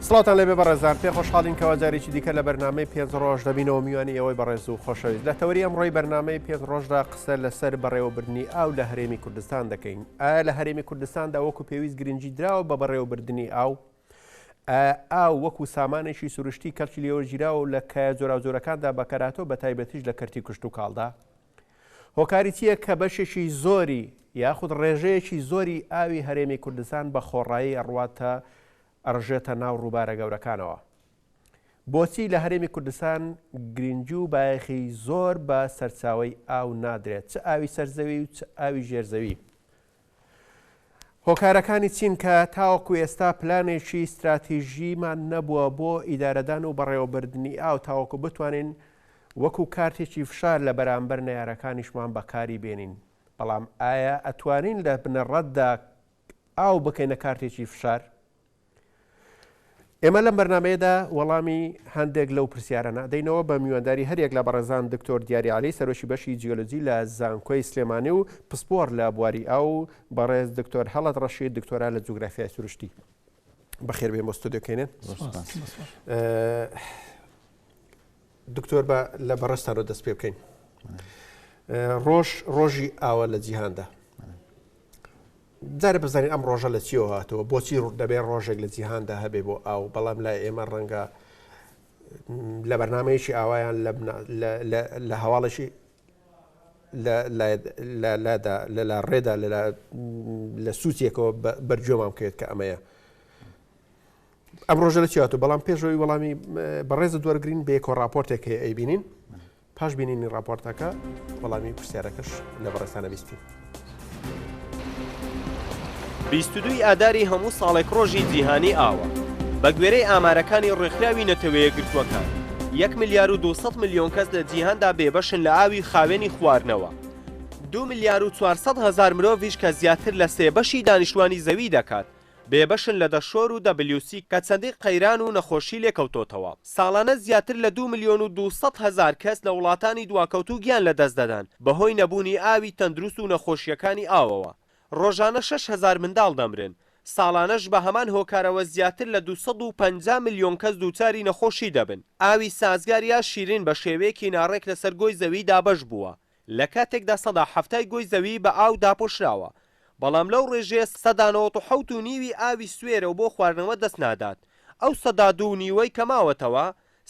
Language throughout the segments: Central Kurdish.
سڵاتان لەێ بەڕێزان پێ خۆشحاڵین کەوا جارێکی دیکە لە بەرنمەی پێ ڕۆژ دەبینەوە میوانی ئەوەی بەڕێز و خۆشەویست لە تەوری ئەم ڕۆی بەرنمەی پێ ڕۆژدا قسە لەسەر بەڕێوەبردننی ئاو لە هەرێمی کوردستان دەکەین ئایا لە هەرێمی کوردستاندا وەکو پێویست گرنگی دراوە بە بەڕێوەبردننی ئاو ئایا ئاو وەکو سامانێکی سروشتی کەڵکی لێوەرگیراوە و لە کایە جۆراوجۆرەکاندا بەکەرهاتەو بەتایبەتیش لە کەرتی کشتوکاڵدا؟ هۆکاری چییە کە بەشێکی زۆری یاخود ڕێژەیەکی زۆری ئاوی هەرێمی کوردستان بە خۆڕایی ئەڕواتە ئەڕژێتە ناو ڕووبارە گەورەکانەوە؟ بۆچی لە هەرێمی کوردستان گرنگی و بایەخی زۆر بە سەرچاوەی ئاو نادرێت چ ئاوی سەرزەوی و چ ئاوی ژێرزەوی؟ هۆکارەکانی چین کە تاوەکو ئێستا پلانێکی ستراتیژیمان نەبووە بۆ ئیدارەدان و بەڕێوەبردنی ئاو تاوەکو بتوانین وەکو کارتێکی فشار لە بەرامبەر نەیارەکانیشمان بەکاری بێنین بەڵام ئایا ئەتوانین لە بنەڕەتدا ئاو بکەینە کارتێکی فشار؟ ئێمە لەم بەرنامەیەدا وەڵامی هەندێک لەو پرسیارانە دەینەوە بە میوانداری هەریەک لە بەڕێزان دکتۆر دیاری علی سەرۆکی بەشی جیۆلۆجی لە زانکۆی سلێمانی و پسپۆر لە بواری ئاو بەڕێز دکتۆر هەڵت ڕەشید دکتۆرا لە جوگرافیای سروشتی بەخێربێن بۆ ستۆدیۆکەێنێن دکتۆر بە لە بەڕستانەوە دەست پێ بکەین ڕۆژ ڕۆژی ئاوە لە جیهاندا دارە بزانین ئەم ڕۆژە لە چیەوە هاتەوە بۆچی دەبێ ڕۆژێک لە جیهاندا هەبێ بۆ ئاو بەڵام لای ئێمە ڕەنگە لە بەرنمەیەکی ئاوایان لە هەواڵێکی لادا لەلا ڕێدا لە سووتێکەوە بەرجۆمان بکرێت کە ئەمەیە ئەم ڕۆژە لە چیاتوو بەڵام پێشەوەی وەڵامی بەڕێزت وەرگین بێکۆ راپۆرتێک هەیە ئەی بینین پاش بینینی راپۆرتەکە وەڵامی پرسیارەکەش لە بەڕێستانە بیستین. بیستدوی ئاداری هەموو ساڵێک ڕۆژی جیهانی ئاوە بە گوێرەی ئامارەکانی ڕێکخراوی نەتەوەیە گرتووەکان 1 ملیار و 200 میلیۆن کەس لە جیهاندا بێبەشن لە ئاوی خاوێنی خواردنەوە دو ملیار و 400 هزار مرۆڤش کە زیاتر لە سێ بەشی دانیشتوانی زەوی دەکات بێبەشن لە دەشۆر و دەبلیو سی کە چەندین قەیران و نەخۆشی لێکەوتۆتەوە. ساڵانە زیاتر لە دوو ملیۆن و دوو سەد هەزار کەس لە وڵاتانی دواکەوتوو گیان لەدەست دەدەن بەهۆی نەبوونی ئاوی تەندروست و نەخۆشییەکانی ئاوەوە. ڕۆژانە شەش هەزار منداڵ دەمرن. ساڵانەش بە هەمان هۆکارەوە زیاتر لە دوو سەد و پەنجا ملیۆن کەس دووچاری نەخۆشی دەبن. ئاوی سازگار یا شیرین بە شێوەیەکی ناڕێک لەسەر گۆی زەوی دابەش بووە. لە کاتێکدا سەدا حەفتای گۆی زەوی بە ئاو داپۆشراوە، بەڵام لەو ڕێژەیە سەدا نەوەت و حەوت و نیوی ئاوی سوێرە و بۆ خواردنەوە دەست نادات، ئەو سەدا دوو و نیوەی کە ماوەتەوە،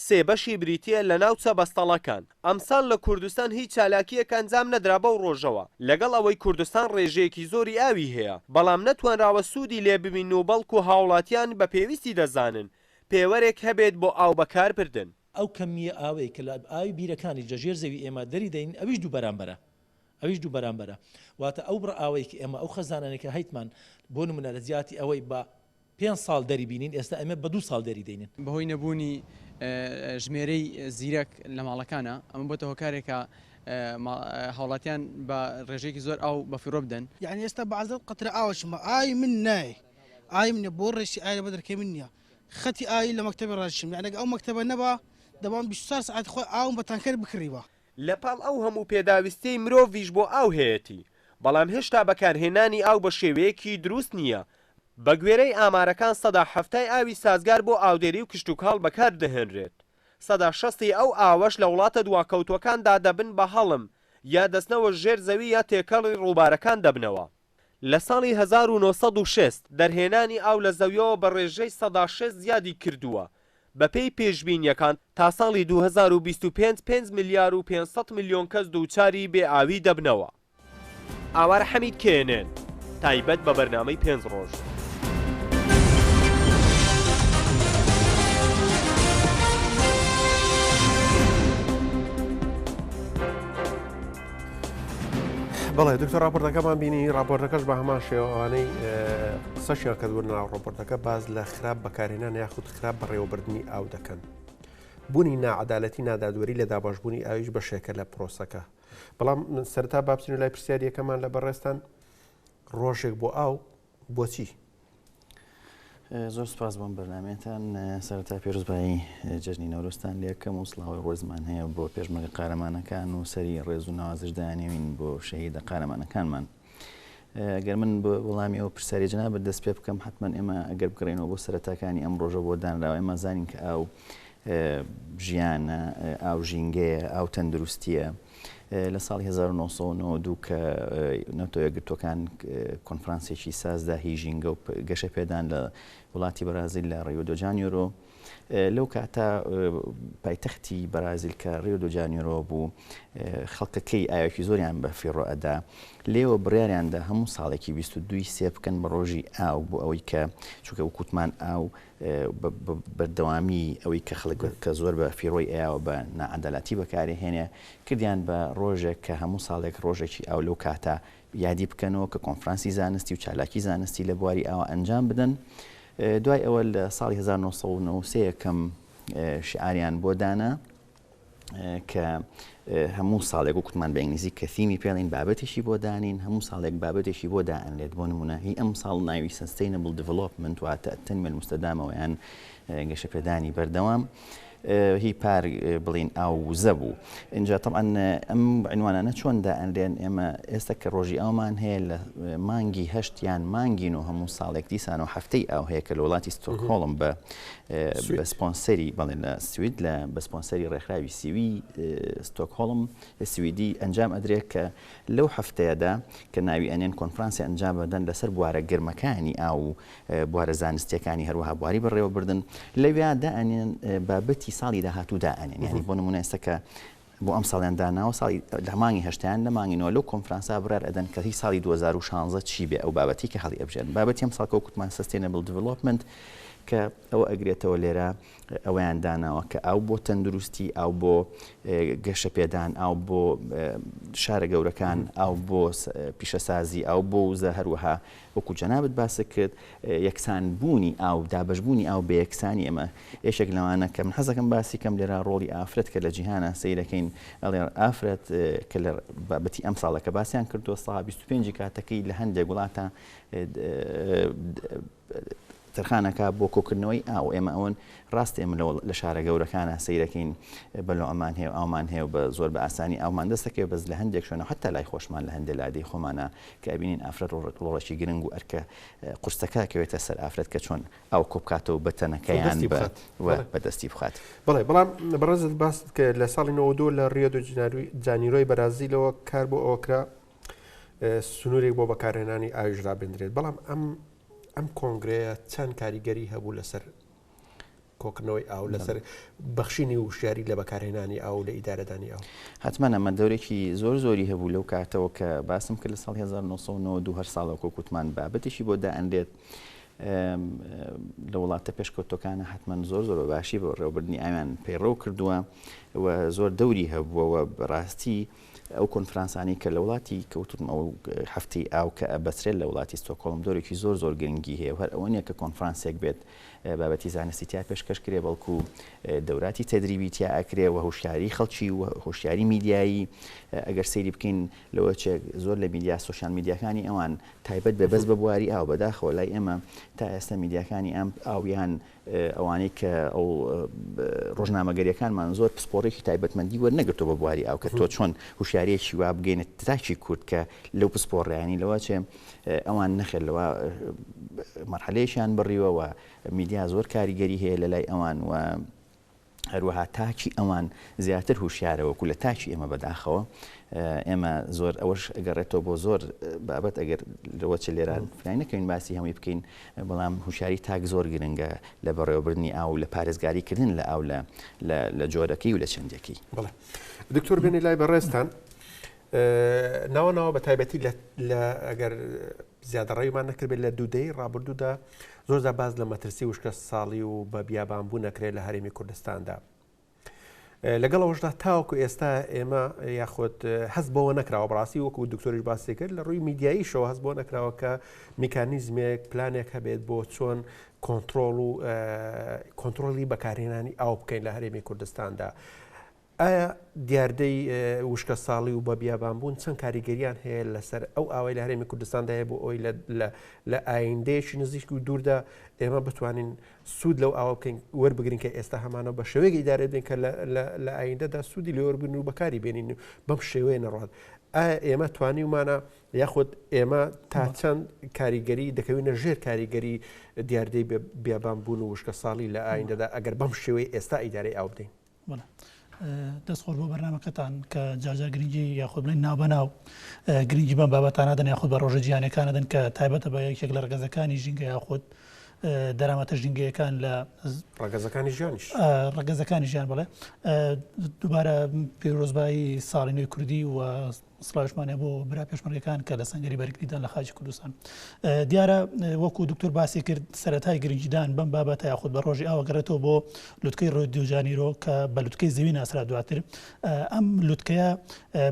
سێ بەشی بریتییە لە ناوچە بەستەڵەکان. ئەمساڵ لە کوردستان هیچ چالاکییەک ئەنجام نەدرا بەو ڕۆژەوە، لەگەڵ ئەوەی کوردستان ڕێژەیەکی زۆری ئاوی هەیە، بەڵام نەتوانراوە سوودی لێ ببینن و بەڵکو هاوڵاتیان بە پێویستی دەزانن پێوەرێک هەبێت بۆ ئاو بەکاربردن. ئەو کەمییە ئاوەی کە لە ئاوی بیرەکانی لە ژێر زەوی ئێمە دەری دەین ئەویش دوو بەرامبەرە ئەویش دوو بەرامبەرە واتە ئەو بڕە ئاوەی کە ئێمە ئەو خەزانانەی کە هەیتمان بۆ نمونە لە جیاتی ئەوەی بە پێنج ساڵ دەری بینین ئێستا ئێمە بە دوو ساڵ دەری دەینین. بەهۆی نەبوونی ژمێرەی زیرەک لە ماڵەکانا ئەمە بۆتە هۆکارێک کە هاوڵاتیان بە ڕێژەیەکی زۆر ئاو بە فیڕۆ بدەن. یەعنی ئێستا بە عەزەت قەترە ئاوەشم ئاوی من نایێ ئاوی منە بۆ ڕێشی ئاوی لەبەر دەرکەی من نییە خەتی ئاوی لە مەکتەبێ ڕادیشم یانی ئەگەر ئەو مەکتەبە نەبا دەبام بیست و چوار سەعات خۆی ئاوم بە تانکەر بکڕیبا. لە پاڵ ئەو هەموو پێداویستیەی مرۆڤیش بۆ ئاو هەیەتی بەڵام هێشتا بەکارهێنانی ئاو بە شێوەیەکی دروست نیە بە گوێرەی ئامارەکان سەدا حەفتای ئاوی سازگار بۆ ئاودێری و کشتوکاڵ بەکار دەهێنرێت سەدا شەستی ئەو ئاوەش لە وڵاتە دواکەوتوەکاندا دەبن بە هەڵم یا دەچنەوە ژێر زەوی یا تێکەڵی ڕووبارەکان دەبنەوە. لە ساڵی هەزار و نۆ سەد و شەست دەرهێنانی ئاو لە زەویەوە بە ڕێژەی سەدا شەست زیادی کردووە، بەپێی پێشبینییەکان تا ساڵی دوو هەزار و بیست و پێنج پێنج ملیار و پێنج سەد ملیۆن کەس دووچاری بێ ئاوی دەبنەوە. ئاوار حەمید knn تایبەت بە بەرنامەی پێنج ڕۆژ. بڵێ دکتۆر راپۆرتەکەمان بینی راپۆرتەکەش بە هەمان شێوانەی قسەشیان کە دوور ناو راپۆرتەکە باز لە خراپ بەکارێنان یاخود خراپ بەڕێوەبردننی ئاو دەکەن. بوونی ناعادالەتی نادادوەری لە داباشبوونی ئاویش بەشێکە لە پرۆسەکە. بەڵام سەرتا بابچین لای پرسیاریەکەمان لە بەڕێستان ڕۆژێک بۆ ئاو بۆچی؟ زۆر سپاس بۆم بەرنمەتان سەرتا پێرزبایی جەژنی نەورۆستان لەکەم و سلااوی ڕۆزمان هەیە بۆ پێشمەگە قارەمانەکان و سەری ڕێز و نوازش دانیوین بۆ شەهیدە قارەمانەکانمان. گەر من بۆ وڵامی ئەو پرسیاری جنا بە دەست پێ بکەم حتمما ئێمە ئەگەر بگرێنەوە بۆ سەرتاکانی ئەم ڕۆژە بۆ دانراوە ئێمە زانین کە ئاو ژیانە ئاو ژینگەیە ئاو تەندروستیە. لە ساڵی هەزار و نۆ سەد و نەوەد و دوو کە نەتەوە یەکگرتووەکان کۆنفرانسێکی سازدا هی ژینگە و گەشە پێدان لە وڵاتی بەرازیل لە ڕیۆ دۆ جانیۆرۆ لەو کاتە پایتەختی بەرازیل کە ڕیۆ دۆ جانیۆرۆ بوو خەڵکەکەی ئاوێکی زۆریان بە فیڕۆ ئەدا لێوە بڕیاریاندا هەموو ساڵێکی 22 سێ بکەن بە ڕۆژی ئاو بۆ ئەوەی کە چونکە وکوتمان ئاو بەردەوامی ئەوەی کە خەڵک کە زۆر بە فیڕۆی ئەیاوە بە ناعەدالاتی بەکارئەهێنێ، کردیان بە ڕۆژێک کە هەموو ساڵێک ڕۆژێکی ئاو لەو کاتە یادی بکەنەوە کە کۆنفرانسی زانستی و چالاکی زانستی لە بواری ئاوە ئەنجام بدەن. دوای ئەوە لە ساڵی هەزار و نۆ سەد و نەوە و سێ یەکەم شیعاریان بۆ دانا. کە هەموو ساڵێک وکتمان بە ئینگلیزی کە ثیمی پێڵین بابەتیشی بۆ دانین هەموو ساڵێک بابەتێکی بۆ دائەنرێت بۆ نمونە هی ئەم ساڵ ناوی سستینبل دیڤلۆپمنت واتە تەنمە مستەدامەوەیان گەشەپێدانی بەردەوام. هی پار بڵین ئاو وزە بوو اینجا طبعاان ئەم عنوانانە چۆن دائەنرێن ئێمە ئێستا کە ڕۆژی ئەومان هەیە لە مانگی هەشتیان مانگین و هەموو ساڵێک دیسان و هەفتەی ئاو هەیە کە لە وڵاتی ستۆکۆڵم بە بە سپۆنسەری بەڵێن لە سوید لە بە سپۆنسەری ڕێکخراوی سیوی ستۆکهۆڵم سویدی ئەنجام ئەدرێت کە لەو هەفتەیەدا کە ناوی ئەنێن کۆنفرانسی ئەنجام بدەن لەسەر بوارە گرمەکانی ئا و بوارە زانستیەکانی هەروەها بواری بەڕێوەبردن لەویادا ئەنێن بابەتی ساڵی داهاتوودا ئەنێن ینی بۆ نمونە ئێستا کە بۆ ئەمساڵیان داناوە ساڵی لە مانگی هەشتایان لە مانگی نۆ لەو کۆنفرانسە بڕیار ئەدەن کە هی ساڵی دوو هەزار و شانزە چی بێ ئەو بابەتی کە هەڵی ئەبژێرن بابەتی ئەم ساڵ کە وەکو وتمان سستێنەبل دیڤلۆپمنت کە ئەوە ئەگرێتەوە لێرە ئەویان داناوە کە ئاو بۆ تەندروستی ئاو بۆ گەشە پێدان ئاو بۆ شارە گەورەکان ئاو بۆ پیشەسازی ئاو بۆ وزە هەروەها وەکو جەنابت باست کرد یەکسان بوونی ئاو دابەش بوونی ئاو بە یەکسانی ئەمە یەکێک لەوانە کە من حەز دەکەم باسی کەم لێرە ڕۆڵی ئافرەت کە لە جیهانە سەیر دەکەین ئەڵێ ئافرەت کە لە بابەتی ئەمساڵە کە باسیان کردووە سا بیست و پێنجی کاتەکەی لە هەندێک وڵاتە تەرخان ئەکا بۆ کۆکردنەوەی ئاو ئێمە ئەوەن ڕاست ئێمە لەوڵ لە شارە گەورەکانە سەیرەکەین بەلۆ ئەمان هەیە ئاومان هەیە بە زۆر بە ئاسانی ئاومان دەستەکەی بەس لە هەندێک شوێنە حتا لای خۆشمان لە هەندێک لادێی خۆمانە کە ئەبینین ئافرەت ڕۆڕک ڕۆڵەکی گرنگ و ئەرکە قورسەکە کەوێتە سەر ئافرەت کە چۆن ئاو کۆبکاتەوە بە تەنەکەیان بە دەستی بخات بڵێ بەڵام بەڕێزت باست کە لە ساڵی 92 لە ڕیۆ دو جناروی جانیرۆی بەرازیلەوە کار بۆ ئەوکرا سنوورێک بۆ بەکارهێنانی ئاویش ڕابێندرێت بەڵام ئەم ئەم کۆنگرەیە چەند کاریگەری هەبوو لەسەر کۆکردنەوەی ئاو لەسەر بەخشینی وشیاری لە بەکارهێنانی ئاو لە ئیدارەدانی ئەو حتممانە مە دەورێکی زۆر زۆری هەبوو لەو کاتەوە کە باسم کرد لە ساڵ 1992 هەر ساڵە کۆکوتمان بابەتیشی بۆ دائەنرێت لە وڵاتە پێشکەوتەکانە حتمما زۆر زۆر باشی بۆ ڕێوبردننی ئاویان پەیڕەو کردووە و زۆر دەوری هەبووەوە بەڕاستی ئەو کۆنفرانسانەی کە لە وڵاتی کەوتوون ئەو هەفتەی ئاو کە ئەبەسرێت لە وڵاتی ستۆکۆڵم دۆرێکی زۆر زۆر گرنگی هەیە و هەر ئەوە نییە کە کۆنفرانسێک بێت بابەتی زانستی تیا پێشکەش کرێ بەڵکو دەوراتی تەدریبی تیا ئەکرێ و هۆشیاری خەڵکی و هۆشیاری میدیایی ئەگەر سەیری بکەین لەوە چێک زۆر لە میدیا سوسیال میدیاکانی ئەوان تایبەت بێ بەس بە بواری ئاو بەداخەوە لای ئێمە تا ئێستا میدیاکانی ئەم ئاویان ئەوانەی کە ئەو ڕۆژنامەگەریەکانمان زۆر پسپۆڕێکی تایبەتمەندی وەرنەگرتووە بە بواری ئاو کە تۆ چۆن هوشیارەیەکی وا بگەینە تاکی کورد کە لەو پسپۆڕیانی لەوە چێ ئەوان نەخێر لەوە مەرحەلەیەکیان بڕیوەوە میدیا زۆر کاریگەری هەیە لە لای ئەوان و هەروەها تاکی ئەوان زیاتر هوشیارە وەکو لە تاکی ئێمە بەداخەوە ئێمە زۆر ئەوەش گەڕێتەوە بۆ زۆر بابەت ئەگەر لەوە چ لێرا فرای نەکەین باسی هەمووی بکەین بەڵام هوشاری تاک زۆر گرنگە لە بەڕێوەبردننی ئاو لە پارێزگاریکردن لە ئاو لە لە جۆرەکەی و لە چەندەکەی دکتۆر بێنی لای بەڕێستان ناوە ناوە بە تایبەتی لە ئەگەر زیادەڕێیمان نەکردێت لە دوودەی ڕابردوودا زۆردا باز لە مەترسی وشکە ساڵی و بە بیابان بوو نەکرێت لە هەرێمی کوردستاندا. لەگەڵ ئەوشدا تاوکو ئێستا ئێمە یاخود هەست بەوە نەکراوە بڕاستی وەکو دکتۆریش باسی کرد لە ڕووی میدیاییشەوە هەست بۆ نەکراوە کە میکانیزمێک پلانێک هەبێت بۆ چۆن کۆنتترۆل و کۆنتترۆلی بەکارهێنانی ئاو بکەین لە هەرێمی کوردستاندا. ئایا دیاردەی وشکەساڵی و بەبیابانبوون چەند کاریگەرییان هەیە لەسەر ئەو ئاوەی لە هەرێمی کوردستاندا هەیە بۆ ئەوەی لە ئایندەیەکی نزیک و دووردا ئێمە بتوانین سوود لەو ئاوا بکەین وەربگرین کە ئێستا هەمانەوە بە شێوەیەک ئیدارە بدەین کە لە ئایندەدا سوودی لێوەربگرن و بەکاری بێنین و بەم شێوەیە نەڕات ئێمە توانیومانە یاخود ئێمە تا چەند کاریگەری دەکەوینە ژێر کاریگەری دیاردەی بیابان بوون و وشکە ساڵی لە ئایندەدا ئەگەر بەم شێوەی ئێستا ئیدارەی ئاو بدەین بەڵێ دەست خۆش بۆ بەرنامەکەتان کە جارجار گرنگی یاخود بڵێن نابەناو گرنگی بەم بابەتانە دەن یاخود بە ڕۆژە جیانەکانە دەن کە تایبەتە بە یەکێک لە ڕگەزەکانی ژینگە یاخود دەرامەتە ژینگەیەکان لە ڕگەزەکانی ژیانیش ڕگەزەکانی ژیان بڵێ دووبارە پێرۆزبایی ساڵینەوەی کوردی و سڵاویشمان هەیە بۆ برا پێشمەرگەکان کە لە سەنگەری بەرگریدان لە خاکی کوردستان. دیارە وەکو دوکتور باسی کرد سەرەتای گرنگیدان بەم بابەتە یاخود بە ڕۆژی ئاوە گەڕێتەوە بۆ لوتکەی ڕیۆ دیو جانیرۆ کە بە لوتکەی زەوی ناسرا دواتر ئەم لوتکەیە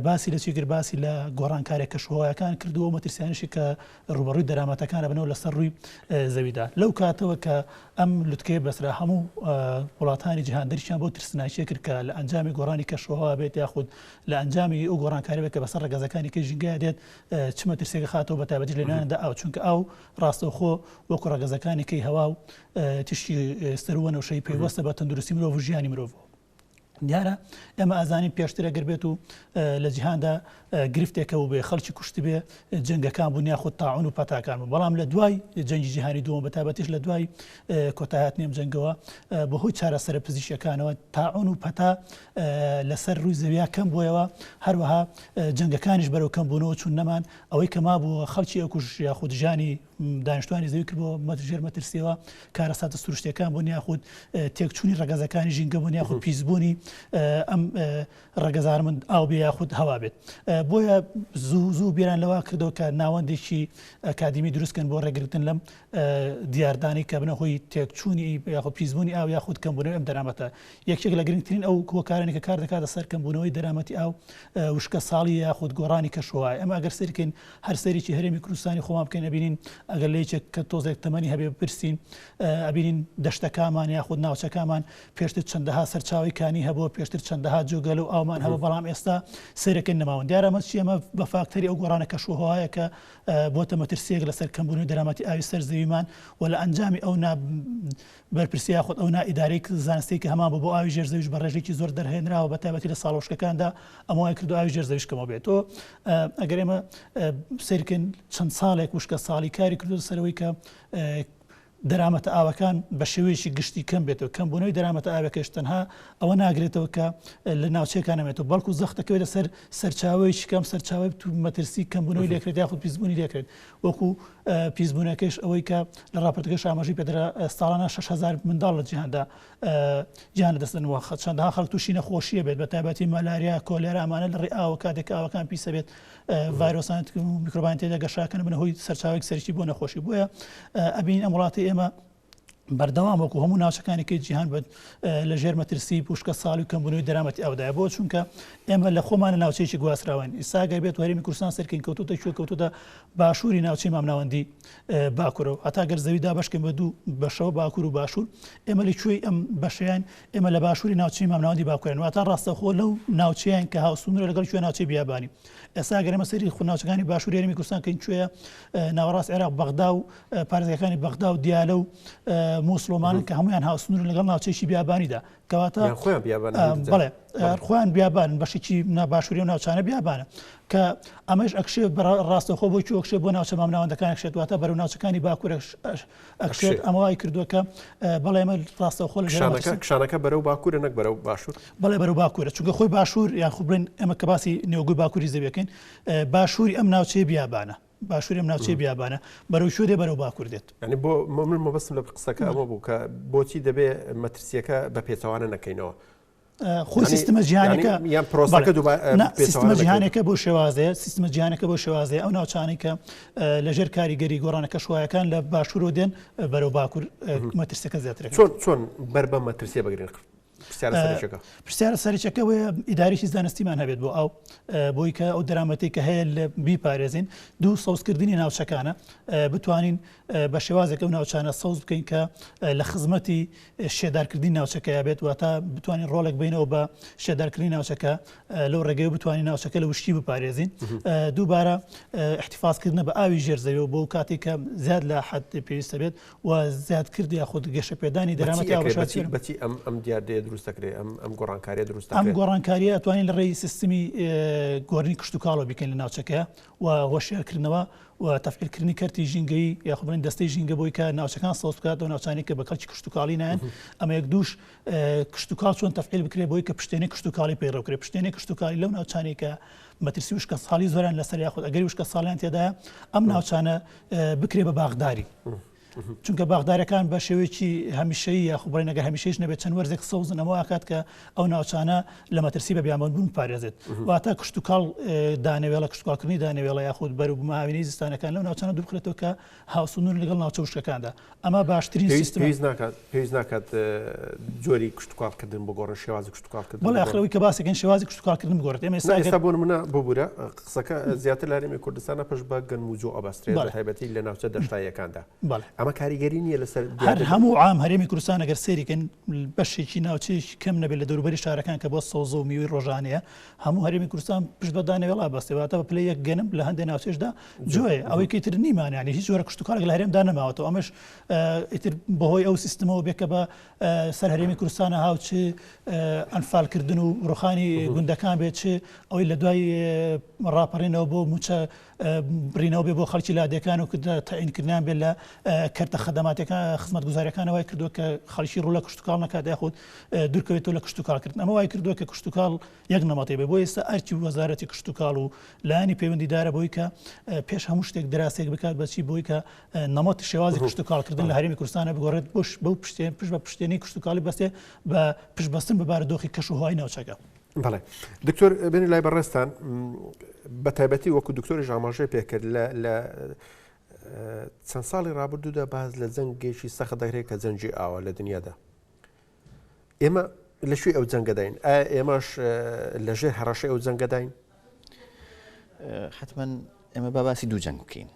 باسی لە چی کرد باسی لە گۆڕانکارە کەشوهەوایەکان کردو ئەو مەترسیانیشی کە ڕوبەڕووی دەرامەتەکانە بنەوە لەسەر ڕووی زەویدا لەو کاتەوە کە ئەم لوتکەیە بەسرا هەموو وڵاتانی جیهان دەرکیان بۆ ترسناکیە کرد کە لە ئەنجامی گۆڕانی کەشوهەوا بێت یاخود لە ئەنجامی ئەو گۆڕانکاریەوە کە بەسەر ڕەگەزەکانی کەی ژینگەیا دێت چ مەترسیەک خاتەوە بە تایبەتیش لە ناوێندا ئاو چونکە ئاو ڕاستەوخۆ وەکو ڕەگەزەکانی کەی هەوا و تیشکی سەروو وەنەوشەیی پەیوەستە بە تەندروستی مرۆڤ و ژیانی مرۆڤەوە دیارە ئێمە ئازانین پێشتر ئەگەر بێت و لە جیهاندا گرفتێکە و بێ خەڵکی کوشت بێ جنگەکان بوون یاخود تاعون و پەتاکان بوو بەڵام لە دوای جەنگی جیهانی دووەم بە تابەتیش لە دوای کۆتاهات نێم جنگەوە بەهۆی چارەسەرە پزیشەکانەوە تاعون و پەتا لەسەر رووی زەویا کەم بۆیەوە هەروەها جەنگەکانیش بەرەو کەم بوونەوە چوون نەمان ئەوەی کە مابوو خەڵکی ئەکوژ یاخود ژانی دانیشتوانی زەوی کردەوە مەت ژێر مەترسیەوە کارەساتە سروشتەکان بۆ نیاخود تێکچوونی ڕگەزەکانی ژینگە بۆ نیاخود پیسبوونی ئەم ڕگەزار من ئاو بێ یاخود هەوا بێت بۆیە زوو زوو بیران لەوا کردەوە کە ناوەندێکی ئەکادمی دروستکەن بۆ ڕێگرتن لەم دیاردانی کە بنە هۆی تێکچوونی یاخود پیسبوونی ئاو یاخود کەمبوونەوە ئەم دەرامەتە یەکێک لە گرنگترین ئەو هۆکارانەی کە کار دەکاتە سەر کەمبوونەوەی دەرامەتی ئاو، وشکەساڵییە یاخود گۆڕانی کەشوهەوایە. ئێمە ئەگەر سەیری بکەین، هەر سەیرێکی هەرێمی کوردستانی خۆمان بکەین ئەبینین، ئەگەر لە یەکێک کە تۆزێک تەمەنی هەبێ بپرسین، ئەبینین دەشتەکانمان یاخود ناوچەکانمان پێشتر چەندەها سەرچاوەی کانی هەبووە، پێشتر چەندەها جۆگە لەو ئاومان هەبوو، بەڵام ئێستا سەیر دەکەین نەماون. دیارە ئەمە چییە؟ ئەمە بە فاکتەری ئەو گۆڕانە کەشوهەوایە کە بۆتە مەترسییەک لەسەر کەمبوونەوەی دەرامەتی ئاوی سەر زەویمان و لە ئەنجامی ئەو نا بەرپرسی یاخود ئەو نا ئیدارەی زانستیەی کە هەمان بوو بۆ ئاوی ژێر زەویش بە ڕێژەیەکی زۆر دەرهێنراوە بە تایبەتی لە ساڵە وشکەکاندا ئەمە وای کردووە ئاوی ژێر زەویش کەمەوە بێت تۆ ئەگەر ئێمە سەیر بکەین چەند ساڵێک وشکە ساڵی کاری کردووە سەرەوەی کە دەرامەتە ئاوەکان بە شێوەیەکی گشتی کەم بێتەوە کەم بوونەوەی دەرامەتە ئاوەکەش تەنها ئەوە ناگرێتەوە کە لە ناوچەکان نەمێتەوە بەڵکو زەختەکەوێت لەسەر سەرچاوی شکەم سەرچاوی مەترسی کەمبوونەوەی لێکرێت یاخود پیسبوونی لێکرێت وەکو پیسبوونەکەیش ئەوەی کە لە ڕاپۆرتەکەیشا ئاماژەی پێدرا، ساڵانە شەش هەزار منداڵ لە جیهاندا گیان لەدەستدەن و چەندەها خەڵک تووشی نەخۆشییە بێت، بەتایبەتی مەلاریا، کۆلێرا، ئەمانە لە ڕێی ئاوە کاتێک کە ئاوەکان پیسە بێت ڤایرۆسان و میکرۆبان تێیدا گەشەکەن بنە هۆی سەرچاوەیەکی سەرەکی بۆ نەخۆشی بۆیە ئەبینین ئەم وڵاتەی ئێمە بەردەوام وەکو هەموو ناوچەکانی کە جیهان بێت لە ژێر مەترسی پوشکە ساڵ و کەمبوونەوەی دەرامەتی ئەودای بۆ چونکە ئێمە لە خۆمانە ناوچەیەکی گواستراوان ئیساگەر بێت وەرمی کوردستان سەرکەین کەوتوتە کوێ کەوتوتە باشووری ناوچەی مامناوەندی باکورەوە هەتا گەر زەویدا بەشکێن بە دوو بەشەوە باکوور و باشوور ئێمە لە کوێی ئەم بەشیان ئێمە لە باشووری ناوچەی مامناوەندی باکوێن واتا ڕاستەخۆ لەو ناوچیان کە هاوسونرە لەگەڵ کوێ ناوچەی بیابانی ئێستا گەرمە سەری خوناوچەکانی باشووری یاریمی کوردستان کەین کوێە ناوەڕاست عێراق بەغدا و پارێزگاکانی بەغدا و دیالە و مووسڵ و مارن کە هەمویان هاوسنوورن لەگەڵ ناوچەیەکی بیابانیدا کەواتە یان خۆیان بیابان ئەم دوو جا. بەڵێ ئەر خۆیان بیابان بەشێکی نا باشووری و ناوچانە بیابانە کە ئەمەش ئەکشێ بە ڕاستەخۆ بۆ چی ئەکشێ بۆ ناوچە مامناوەندەکان ئەکشێت واتە بەرەو ناوچەکانی باکوورەش ئەش- ئەکشێت ئەکشێت. ئەمە وای کردووە کە اه، بەڵێ ئەمە ڕاستەخۆ لە ژێر کشانەکە مەترسی- کشانەکە بەرەو باکوورە نەک بەرەو باشوور بەڵێ بەرەو باکوورە چونکە خۆی باشوور یان خۆ بڵێن ئێمە کە باسی نێوگوی باکووری زەویەکەین اه، باشووری ئەم ناوچەیە بیابانە باشوورێم ناوچەی بیابانە بەرەو کوێ دێ بەرەو باکوور دێت ئەنی بۆ مەمن مەبەستم لە قسەکە ئەوە بوو کە بۆچی دەبێ مەترسیەکە بە پێچوانە نەکەینەوە خۆ سیستمە جیهانەکە یان پرۆسەکە سیستمە جیهانەکە بۆ شێوازەیە سیستمە جیهانەکە بۆ شێوازێ ئەو ناوچانی کە لەژێر کاریگەری گۆڕانە کەشوایەکان لە باشوورۆ دێن بەرەو باکوور مەترسەکە زیاتر چۆن چۆن بەر بە مەترسیە بەگرێن پرسیارە سەرچەکەەوەی ئیداریی زانستیمان هەبێت بۆ ئەو بۆی کە ئەو دەرامەتی کە هەیە لە بیپارێزین دوو سەوزکردنی ناوچەکانە بتوانین بە شێوازێک ئەو ناوچانە سەوز بکەین کە لە خزمەتی شێدارکردنی ناوچەکەیا بێت واتە بتوانین ڕۆڵێک بینەوە بە شێدارکردنی ناوچەکە لەو ڕێگەی بتوانین ناوچەکە لە وشکی بپارێزین دووبارە احتفاظکردنە بە ئاوی ژێرزەوی و بۆ کاتێککە زیاد لە حد پێویستە بێت و زیادکرد یاخود گەشەپێدانی دەرامەتی هاوبەشەکەی بەچی ئەم ئەم دیاردەیە دروست دەکرێت ئەم ئەم گۆڕانکاریە دروست ئەم گۆڕانکاریە ئەتوانین لە ڕێی سیستمی گۆرنی کشت و کاڵەوە بکەین لە ناوچەکە و هۆشیارکردنەوە و تەفعیلکردنی کەرتی ژینگەی یاخبن دەستەی ژینگە بۆی کە ناوچەکان سەوز بکات و ناوچانی کە بە کەڵکی کشت و کاڵی نایەن ئەمە یەک دوش کشت و کاڵ چۆن تەفعیل بکرێت بۆی کە پشتێنی کشت و کاڵی پەیڕەوکرێت پشتێنی کشت و کالی لەو ناوچانی کە مەترسی وشکە ساڵی زۆران لەسەر یاخود ئەگەری وشکە ساڵیان تێدا ئەم ناوچانە بکرێ بە باخداری چونکە باخدارەکان بە شێوەیەکی هەمیشەیی یاخو بڵێن نەگە هەمیشەیش نەبێت چەند وەرزێک سەوزن ئەمە ئاکات کە ئەو ناوچانە لە مەترسی بە بیامەند بوون پارێزێت واتە کشت و کاڵ دانەوێڵە کشتکاڵکردنی دانەوێڵە یاخود بەروبماوینی زستانەکان لەو ناوچانە دوبخێتەوە کە هاوسنور لەگەڵ ناوچە وشکەکاندا ئەمە باشترین سیستمە. پێویست ناکات پێویست ناکات جۆری کشتوکاڵکردن بگۆڕن شێوازی کشتوکاڵکردن بەڵێ ئەخرەوەی کە باسەکەن شێوازی کشتوکاڵکردن بگۆڕێت ئێمە ئێستا ئێستا بۆ نمونە ببوورە قسەکە زیاتر لە هەرێمی کوردستانە پشت بە گەنم و جۆ ئەبەسترێت بە تایبەتی لە ناوچە دەشتاییەکاندا بەڵێ ئەمە کاریگەری نییە لەسەر هەر هەموو عام هەرێمی کوردستان ئەگەر سەیرکەن بەشێکی ناوچەیەکی کەم نەبێت لە دەوروبەری شارەکان کە بۆ سەوزە و میوەی ڕۆژانەیە هەموو هەرێمی کوردستان پشت بە دانەوێڵا بەستێ واتە بە پلەی یەک گەنم لە هەندێک ناوچەشدا جۆێ ئەوەی کەیتر نیمان ینی هیچ جۆرە کشتتوکارێک لە هەرێمدا نەماوەەوە ئەمەش ئیتر بەهۆی ئەو سیستمەوە بێکە بە سەر هەرێمی کوردستانە هاوچ ئەنفالکردن و ڕوخانی گوندەکان بێت چ ئەوەی لە دوای ڕاپەڕینەوە بۆ موچە برینەوە بێ بۆ خەڵکی لادەکان و کردە تاینکردیان بێت لە کەرتە خەدەماتەکان خزمەت گوزارەکانەوەی کردووە کە خەڵکی ڕوو لە کشتتوکڵ نکات یاخود دوورکەوێتەوە لە کشتتوکڵکردن ئەمە وای کردووە کە کشتتوکڵ یەک نەمەتی بێ، بۆ ئێستا ئەرکی وەزارەتی کشتوکاڵ و لایەنی پەیوەندیدارە بەوەی کە پێش هەموو شتێک دراسەیەک بکات بە چی بۆی کە نەمەتی شێوازی کشتوکاڵکردن لە هەرێمی کوردستانە بگۆڕێت بۆش بەو پشتێن پشت بە پشتێنی کشتوکاڵی بەستێ بە پشتبەستن بە بارودۆخی کەش و هەوای ناوچەکە. بەڵێ دکتۆر بێنی لای بەڕێستان بە تایبەتی وەکو دکتۆری ژاماژێ پێکرد لە چەند ساڵی ڕابردوودا باز لە جەنگێکی سەخت دەگرێت کە جەنجی ئاوە لە دنیادا ئێمە لە کوێی ئەو جەنگەداین ئایا ئێمەش لە ژێر هەڕەشەی ئەو جەنگەداین حتمما ئێمە با باسی دوو جەنگ بکەین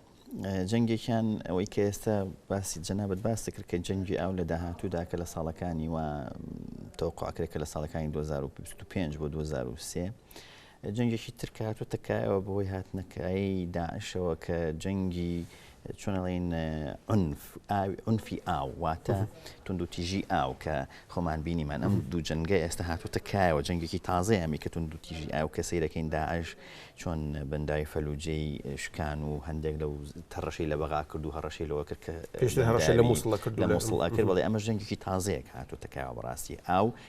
جەنگێکیان ئەوەی کە ئێستا باسی جەنابەت باس دەکرد کە جەنگی ئاو لە داهاتوودا کە لە ساڵەکانی و تەوقعکرێکە لە ساڵەکانی 2025 بۆ 2023 جەنگێکی تر کە هاتووەتە کایەوە بەهۆی هاتنەکایی داعشەوە کە جەنگی چۆنەڵین ئونفی ئاو واتە توندوتیژی ئاو کە خۆمان بینیمان ئەم دوو جەنگە ئێستا هاتووەتە کایەوە جەنگێکی تازە ئەمی کە توندوتیژی ئاو کە سیرەکەین داعش چۆن بەنداوی فەلوجەی شکان و هەندێک لەو تەڕەشەی لە بەغا کرد و هەڕەشەی لەوە کرد کە پێش هەڕەشە لە مووسڵە کرد لە مووسڵە کرد بڵێ ئەمە جەنگێکی تازەیەک هاتووتە کایەوە بەڕاستی ئاو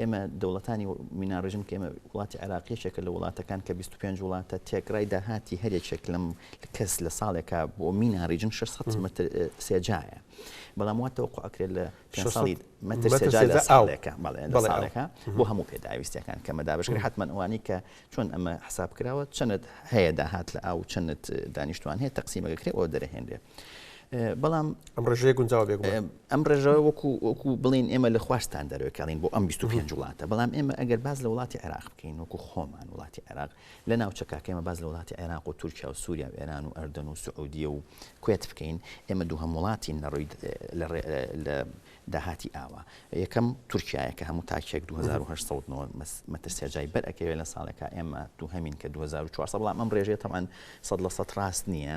ئێمە دەوڵەتانی مینا ڕژیم کە ئێمە وڵاتی عێراق یەکێکە لە وڵاتەکان کە بیست و پێنج وڵاتە تێکڕای داهاتی هەر یەکێک لەم کەس لە ساڵێکا بۆ مینا ڕیژن شەش سەد مەتر سێجایە بەڵام وا تەوەقوع ئەکرێت لە پێنج شەش سەد ساڵی مەتر مەتر سێجا لە سێجا ئاو ساڵێکە بەڵێ لە بەڵێ ئاو ساڵێکە بۆ هەموو پێداویستیەکان کەمە دابەشکرێت حەتمەن ئەوانەی کە چۆن ئەمە حساب کراوە چەند هەیە داهات لە ئاو چەند دانیشتوان هەیە تەقسیمەکە کرێ ئەوە دەرەهێنرێ بەڵام ئەم ڕێژەیە گونجاوە بێگومان. ئەم ڕێژەوە وەکو وەکو بڵێن ئێمە لە خواستان دەرەکەڵین بۆ ئەم 25 وڵاتە بەڵام ئێمە ئەگەر باز لە وڵاتی عێراق بکەین وەکو خۆمان وڵاتی عێراق لە ناوچەکەکەمە باز لە وڵاتی عێراق و تورکیا و سووریا و ئێران و ئەردەن و سعودیە و کوێت بکەین ئێمە دوو هەم وڵاتین لە ڕووی لە داهاتی ئاوا یەکەم تورکایە کە هەموو تاکێک 2800 مەتر سێجای بەر ئەکەوێت لە ساڵێکە ئێمە دوو هەمین کە 2400 بەڵام ئەم ڕێژێت تەوان سەد لە سەد ڕاست نییە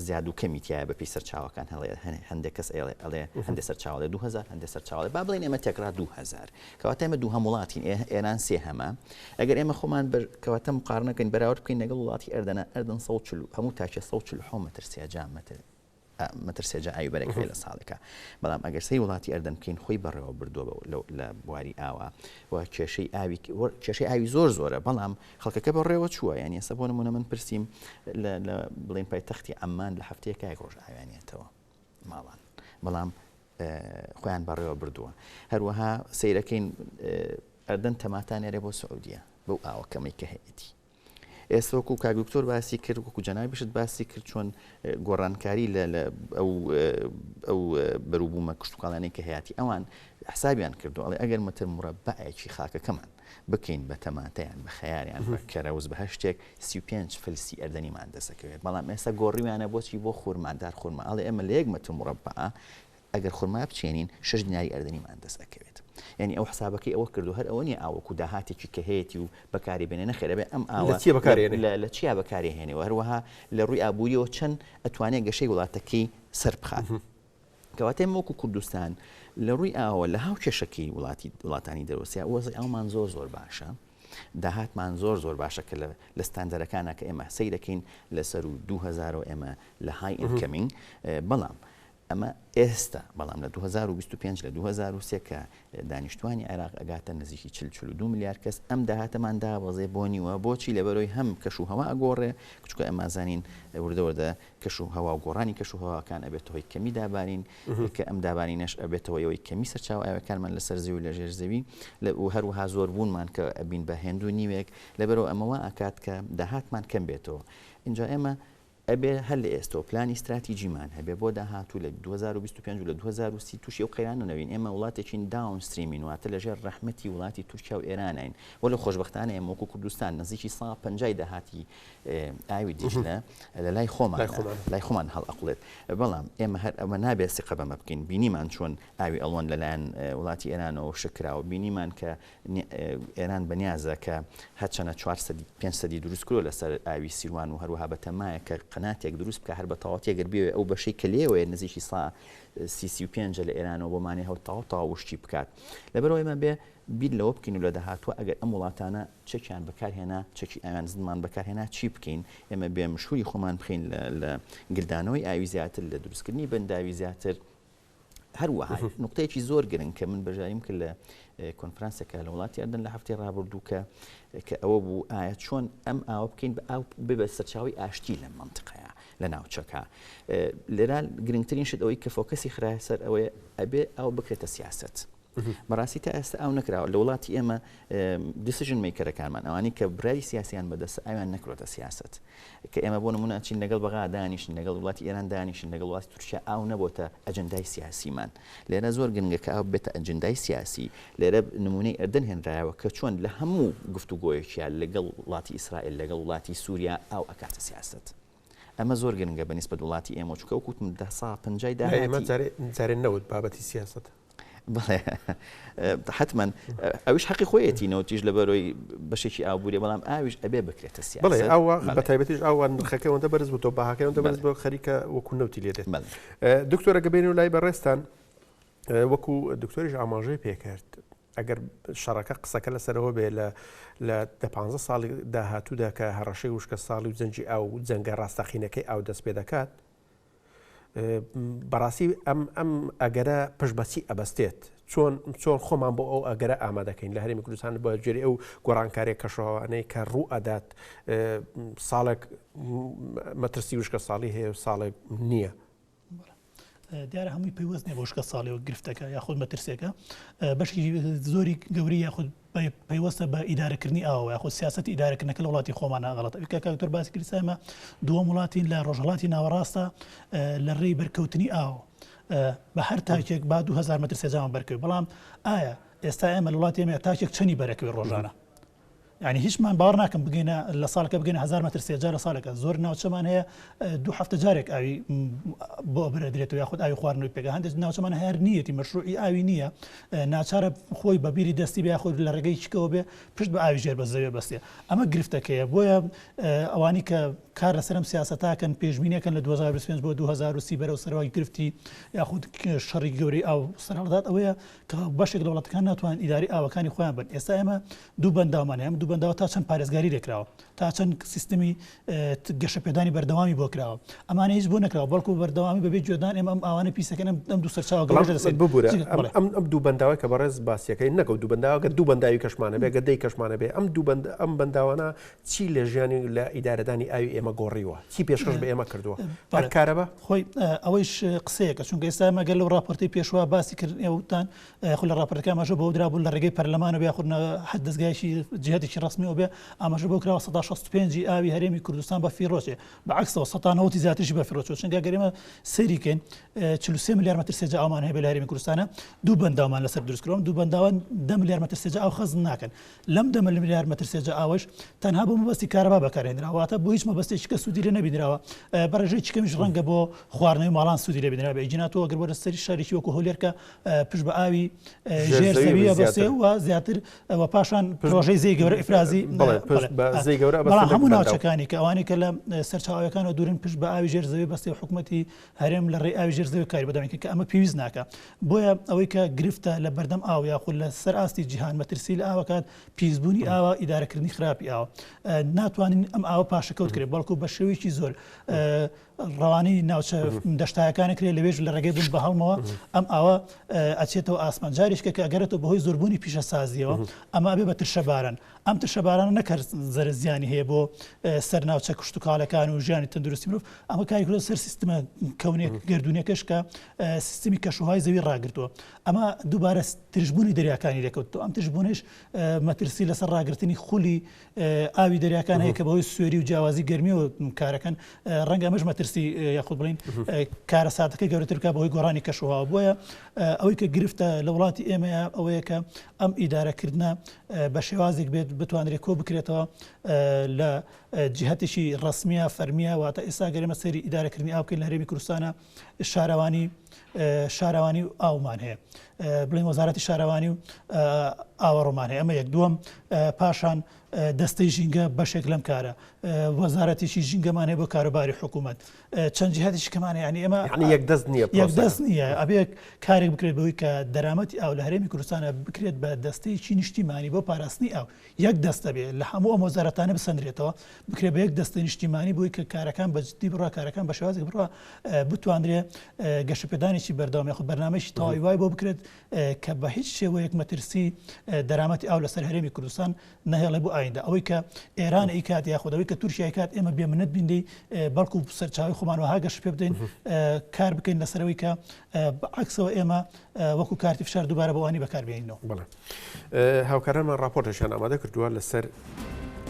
زیاد و کەمی تیایە بەپێی سەرچاوەکان هەڵێ هەندێک کەس ئێڵێ ئەڵێ هەندێک سەرچاوە ئەڵێ دوو هەزار هەندێک سەرچاوە ئەڵێ با بڵێین ئێمە تێکڕا دوو هەزار کەواتە ئێمە دووهەم وڵاتین ئێ ئێران سێهەمە ئەگەر ئێمە خۆمان بەر کەواتە مقارنە بکەین بەراورد بکەین لەگەڵ وڵاتی ئەردەنە ئەردەن سەد و چل و هەموو تاکێ سەد و چل و حەوت مەتر سێجا مەتر مەترسێ جا ئاوی بەرەک هەیە لە ساڵێکا بەڵام ئەگەر سەی وڵاتی ئەردەن بکەین خۆی بەڕێوە بردووە بە لە بواری ئاوا و کێشەی ئاوی کێشەی ئاوی زۆر زۆرە بەڵام خەڵکەکە بەڕێوە چووە یانی ئێستا بۆ نمونە من پرسیم لە بڵین پایتەختی ئەممان لە هەفتەیەکە یەک ڕۆژ ئاویانێتەوە ماڵان بەڵام خۆیان بەڕێوە بردووە هەروەها سیرەکەین ئەردەن تەماتانێرە بۆ سعودیە بەو ئاوە کەمەی کە هەیەتی ئێستا وەکو کاک دکتۆر باسی کرد وەکو جەنابیشت باسی کرد چۆن گۆڕانکاری لە ئەو بەروبوومە کشتتوکڵانەی کە هەیەی ئەوان حسابیان کردو ئەڵێ ئەگەر مەتر مرەبعەکی خاکەکەمان بکەین بە تەماتیان بە خەیاریان کەرەوز بە هەشتێک سی پێنج فلسی ئەردەنیمان دەسەکەوێت بەڵام ئێستا گۆڕیویانە بۆچی بۆ خورمادار خورمە ئەڵێ ئێمە لە یەک مەتر مرەبعە ئەگەر خورما بچێنین شەش دیناری ئەردەنیمان دەست ئەکەوێت یانی ئەو حسابەکەی ئەوە کردو هەر ئەوە نیە ئاوەکو داهاتێکی کە هەیەتی و بەکاری بێنێ نەخێر ئەبێ ئەم ئاوە لە چیە بەکاری ئەنێ لە لە چیا بەکاری هێنێ و هەروەها لە ڕووی ئابووریەوە چەن ئەتوانێ گەشەی وڵاتەکەی سەر بخات کەواتە ئێمە وەکو کوردستان لە ڕووی ئاوە لە هاو کێشەکەی وڵاتی وڵاتانی دەرۆسیا وەزی ئەومان زۆر زۆر باشە داهاتمان زۆر زۆر باشە کە لە لە ستاندەرەکانە کە ئێمە سەیرەکەین لەسەر و 2000 ئێمە لە های ئینکەمینگ بەڵام ئەمە ئێستا، بەڵام لە دوو هەزار و بیست و پێنج لە دوو هەزار و سێ کە دانیشتوانی عێراق ئەگاتە نزیکی چل چل و دوو ملیار کەس ئەم داهاتەمان دابەزێ بۆ نیوە بۆچی لەبەرەوەی هەم کەش و هەوا ئەگۆڕێ چونکە ئەمانزانین وردە وردە کەش و هەوا و گۆڕانی کەش و هەواکان ئەبێتە هۆی کەمی دابارین کە ئەم دابارینەش ئەبێتەوە ئەوەی کەمی سەرچاوە ئاوەکانمان لەسەر زەوی و لە ژێر زەوی لە و هەروەها زۆر بوونمان کە ئەبین بە هێندو نیوێک لەبەرەوە ئەمە وا ئەکات کە داهاتمان کەم بێتەوە ئینجا ئێمە ئەبێ هەر لە ئێستەوە پلانی ستراتیجیمان هەبێ بۆ داهاتوو لە دوو هەزار و بیست و پێنج و لە دوو هەزار و سی تووشی ئەو قەیرانە نەبین، ئێمە وڵاتێکین داون ستریمین واتە لە ژێر ڕەحمەتی وڵاتی تورکیا و ئێرانین وەلێ خۆشبەختانە ئێمە وەکوو کوردستان نزیکی سا پەنجای داهاتی ئاوی دیجلە لە لای خۆمانە لای خۆمان هەڵئەقڵێت بەڵام ئێمە هەر ئەمە نابێ سیقە بەمە بکەین بینیمان چۆن ئاوی ئەڵوەن لەلایەن وڵاتی ئێرانەوە شکراوە بینیمان کە ئێران بە نیازە کە هەرچەنە چوار سەدی، پێنج سەدی دروست کرۆ لە سەر ئاوی سیروان و هەروەها بە تەمایە کە قەناتێک دروست بکا هەر بە تەواوەتی ئەگەر بیەوێ ئەو بەشەی کە لێوەیە نزیکی سا سی سی و پێنجە لە ئێرانەوە بۆ مانێ هەو تاو تاو وشکی بکات لەبەرەوە ئێمە بێ بیر لەوە بکەین و لە داهاتوە ئەگەر ئەم وڵاتانە چەکیان بەکارهێنا چەکی ئاویان زمان بەکارهێنا چی بکەین ئێمە بێ مشوری خۆمان بخین لە گلدانەوەی ئاوی زیاتر لە دروستکردنی بەنداوی زیاتر هەروەها نقطەیەکی زۆر گرنگ کە من بەژاریم کرد لە کۆنفرانسەکە لە وڵاتی ئەردن لە هەفتەی ڕابردوو کە کە ئەوە بوو ئایا چۆن ئەم ئاوە بکەین بە ئاو ببە سەرچاوی ئاشتی لە منطقەیە لە ناوچەکە لێرا گرنگترین شت ئەوەی کە فۆکەسی خراە سەر ئەوەیە ئەبێ ئەو بکرێتە سیاست. بەڕاستی تا ئێستا ئەو نەکراوە لە وڵاتی ئێمە دیسیژن میکەرەکانمان ئەوانی کە برای سیاسیان بەدەست ئەویان نەکرۆتە سیاست کە ئێمە بۆ نمونە چین لەگەڵ بەغا دانیشن لەگەڵ وڵاتی ئێران دانیشن لەگەڵ وڵاتی تورکیا ئاو نەبۆتە ئەجندای سیاسیمان لێرە زۆر گرنگە کە ئاو بێتە ئەجندای سیاسی لێرە نمونەی ئەردەن هێنرایەوە کە چۆن لە هەموو گفتوگۆیەکیان لەگەڵ وڵاتی ئیسرائیل لەگەڵ وڵاتی سووریا ئاو ئەکاتە سیاست. ئەمە زۆر گرنگە بە نیسبەت وڵاتی ئێمە چکە و کوتم دە سا پنجای دا ئێمە جارێن نەوت بابەتی سیاستە حتمما ئەوش حقی خۆیەتی نەوتیش لە بەرۆی بەشێکی ئابووری بەڵام ئاویش ئەبێ بکرێتە سی بڵێ ئەوە بە تایبەتیش ئەوان نرخەکەەوەندە بەرز بۆ بەهاکەەوەندە بەرز بۆ خەریکە وەکو نەوتی لێت دکتۆرە گەبێن و لای بەڕێستان وەکو دکتۆریش ئاماژەی پێکرد ئەگەر شەڕەکە قسەکە لەسەر ئەوە بێت لە لە دە پانزە ساڵی داهاتوودا کە هەڕەشەی وشکە ساڵی و جەنجی ئاو و جەنگە ڕاستەقینەکەی ئاو دەست پێ دەکات بەڕاستی ئەم ئەم ئەگەرە پشت بەچی ئەبەستێت چۆن چۆن خۆمان بۆ ئەو ئەگەرە ئامادەکەین لە هەرمی کوردستان بە جێری ئەو گۆڕانکارێک کەشەوانەی کە ڕوو ئەدات ساڵێک مەترسی وشکە ساڵی هەیە و ساڵێک نییە. دیارە هەمووی پەیوەست نیە بۆ شکە ساڵی و گرفتەکە یاخود مەترسێکە بەشی زۆری گەوری یاخود پەیوەستە بە ئیدارەکردنی ئاوە یاخود سیاست ئیدارەکردنەکە لە وڵاتی خۆمانە غڵەت کاکتۆر باسی کریسایمە دووەم وڵاتی لە ڕۆژهڵاتی ناوەڕاستە لە ڕێی بەرکەوتنی ئاوە بە هەر تاکێک با 2000 متر سێجان بەرکەوت بەڵام ئایا ئێستا ئێمە وڵاتی ئێمە تاکێک چەنی بەرەکەوێت ڕۆژانە یانی هیچ من باوەڕ ناکەم بگەینە لە ساڵکە بگەنە هزار مەتر سێجار لە ساڵەکە زۆر ناوچەمان هەیە دوو هەفتە جارێک ئاوی بۆ بەرەدرێتەوە یاخود ئاوی خواردنەوەی پێگە هەندێک ناوچەمان هەر نیەتی مەشروعی ئاوی نییە ناچارە خۆی بەبیری دەستی بە یاخود لە ڕێگەی چکەوە بێ پشت بە ئاوی ژێر بە زەوێ بەستێ ئەمە گرفتەکەیە بۆیە ئەوانی کە کار لەسرم سیاستاکەن پێشبینەکەن لە 2025 بۆ 2030 بەرەو سەرەوەی گرفتی یاخود شەڕی گەوری ئاو سەرهەڵدات ئەوەیە کە بەشێک لە وڵاتەکان ناتوانن ئیدارەی ئاوەکانی خۆیان بن ئێستا ئێمە دوو بەنداومان هەیە ئەم دوو بەنداوە تا چەند پارێزگاری لێ کراوە تا چەند سیستمی گەشەپێدانی بەردەوامی بۆ کراوە ئەمانە هیچ بۆ نەکراوە بەڵکو بەردەوامی بەبێ گوێدان ئێمە ئەم ئاوانە پیسەکەن ئەم دوو سەرچاوە گەڵێژە دەسێت ببورە ئەم دوو بەنداوە کە بەڕێز باسیەکەی نەگەوت دوو بەنداوەکە دوو بەنداوی کەشمانە بێگە دەی کەشمانە بێ ئەم دوو بەند ئەم بەنداوانە چی لە ژیانی و لە ئیدارەدانی ئاوی ئێمە گۆڕیوە؟ چی پێشکەش بە ئێمە کردووە؟ ئەک کارەبا؟ خۆی ئەوەیش قسەیەکە، چونکە ئێستا ئێمە گەر لەو ڕاپۆرتەی پێشوە باسی کرد ئێوە وتتان خۆ لە ڕاپۆرتەکە ئاماژە بەوە درابوو لە ڕێگەی پەرلەمانەوە یاخود هەر دەزگایەکی جیهەتێکی ڕەسمیەوە بێ ئاماژە بەوە کراوە سەدا شەست و پێنج ی ئاوی هەرێمی کوردستان بەفیڕۆچێ بە عەکسەوە سەتا نەوەد ی زیاتریش بەفیڕۆچووە چونکە گەر ئێمە سەیری بکەین چل و سێ ملیار مەتر سێجا ئاومان هەیە بە لە هەرێمی کوردستانە دوو بەنداومان لەسەر دروست کراون دوو بەنداوە دە ملیار مەتر سێجا ئاو خەزن ناکەن لەم دەمە لەملیار مەترسێ جا ئاوەش تەنها بۆ مەبەستی کارەبا بەکارهێنرا واتە بۆ هیچ مەبەستێکی کە سوودی لێ نەبینراوە بەڕێژەی چکەمیش ڕەنگە بۆ خواردنەوەی ماڵان سوودی لێ بینرا بە جناتەوە ئەگەر بۆ لەسەری شارێکی وەکو هەولێر کە پشت بە ئاوی ژێر زەویە بەسێ و زیاتر و پاشان پرۆژەی زێی گەورە ئیفرازی زێی گەورە بەڵام هەموو ناوچەکانی کە ئەوانی کە لە سەرچاوەکانەوە دوورن پشت بە ئاوی ژێر زەوی بەستی حکوومەتی هەرێم لە ڕێی ئاوی ژێر زەوی کاری بەردەوامی کرد کە ئەمە پێویست ناکا. بۆیە ئەوەی کە گرفتە لە بەردەم ئاو یاخود لە سەر ئاستی جیهان مەترسی لە ئاو ئەکات پیسبوونی ئاوە، ئیدارە کردنی خراپی ئاوە. ناتوانین ئەم ئاوە پاشەکەوت کرێ بەڵکوو بە شێوەیەکی زۆر ڕەوانەی ناوچە دەشتایەکان ئەکرێ لەوێش لە ڕێگەی بوون بە هەڵمەوە ئەم ئاوە ئەچێتەوە ئاسمان جاریشکە کە ئەگەرێتەوە بەهۆی زۆربوونی پیشەسازییەوە ئەمە ئەبێ بە ترشەباران. ئەم ترشەبارانە نەک هەر زەرەر زیانی هەیە بۆ سەر ناوچە کشتتوکالەکان و ژیانی تەندروستی مرۆڤ ئەمە کاری کرۆ سەر سیستمە کەونێک گردونەکەش کە سیستمی کەشوهای زەوی ڕاگرتووە ئەمە دووبارە ترشببوونی دەریاکانی لەکەوتو ئەم ترشببوونش مەترسی لەسەر ڕاگررتنی خولی ئاوی دەریاکان هەیە کە بەوەی سوێری و جیاوازی گەرمی و کارەکەن ڕەنگە ئەمەش مەترسی یاخود بڵین کارە ساتەکە گەورەترکە بەهۆی گۆڕانی کەشوها بۆیە ئەوەی کە گرفتە لە وڵاتی ئێمە ئەوەیە کە ئەم ئیدارەکردنە بە شێوازێک بێت بتوانرێت کۆ بکرێتەوە لە جیهتێکی ڕسمیە فەرمیە واتە ئێستا گەرمە سەری ئیدارەکردنی ئاوکەین لە هەرێمی کوردستانە شارەوانی شارەوانی و ئاومان هەیە بڵین وەزارەتی شارەوانی و ئاوەڕۆمان هەیە ئەمە یەک دووەم پاشان دەستەی ژینگە بەشێک لەم کارە وەزارەتێکی ژینگەمان هەیە بۆ کاروباری حکوومەت چەند جیهاتیش کەمانە ینی ئێمە یەک دەست نییە یەک دەست نییە ئەبێ کارێک بکرێت بەوەی کە دەرامەتی ئاو لە هەرێمی کوردستانە بکرێت بە دەستەیەکی نیشتیمانی بۆ پاراستنی ئاو یەک دەستە بێ لە هەموو ئەم وەزارەتانە بسەندرێتەوە بکرێ بە یەک دەستە نیشتیمانی بۆی کە کارەکان بەجددی بڕا کارەکان بە شێوازێک بڕا بتواندرێ گەشەپێدانێکی بەردەوام یخ بەرنمەشی تەواوی وای بۆ بکرێت کە بە هیچ شێوەیەک مەترسی دەرامەتی ئاو لەسەر هەرێمی کوردستان نەهێڵێ بۆ ئایندە ئەوەی کە ئێران ئی کات یاخودەوەی کە تورکیای کات ئێمە بێ منەت بینی بەڵکو سەرچاوی خۆمانەوەها گەش پێ بدەین کار بکەین لەسەرەوەی کە عکسەوە ئێمە وەکو کارتی فشار دووبارە بەوانی بەکاربیێنەوە بڵێ هاوکارانمان راپۆرتەشان ئامادە کردووە لەسەر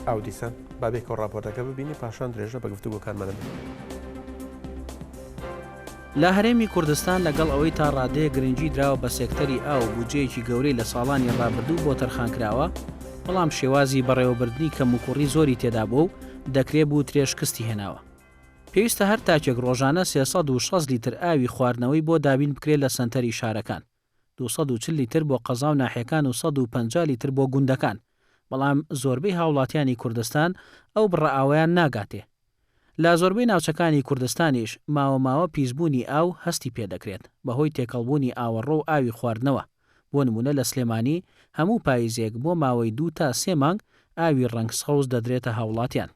ئاو دیسان با بێکەوە ڕاپۆرتەکە ببینین پاشان درێژە بە گفتوگۆکانمان بدەین. لە هەرێمی کوردستان لەگەڵ ئەوەی تا ڕادەیەک گرنگی دراوە بە سێکتەری ئاو و بودجەیەکی گەورەی لە ساڵانی ڕابردوو بۆ تەرخان کراوە، بەڵام شێوازی بەڕێوەبردنی کەموکوڕی زۆری تێدا بووە و دەکرێ بوترێ شکستی هێناوە. پێویستە هەر تاکێک ڕۆژانە سێ سەد و شەست لیتر ئاوی خواردنەوەی بۆ دابین بکرێ لە سەنتەری شارەکان. دوو سەد و چل لیتر بۆ قەزا و ناحیەکان و سەد و پەنجا لیتر بۆ گوندەکان، بەڵام زۆربەی هاوڵاتیانی کوردستان ئەو بڕە ئاوەیان ناگاتێ. لە زۆربەی ناوچەکانی کوردستانیش ماوە ماوە پیسبوونی ئاو هەستی پێ دەکرێت بەهۆی تێکەڵبوونی ئاوەڕۆ و ئاوی خواردنەوە، بۆ نموونە لە سلێمانی هەموو پایزێک بۆ ماوەی دوو تا سێ مانگ ئاوی ڕەنگ سەوز دەدرێتە هاوڵاتیان.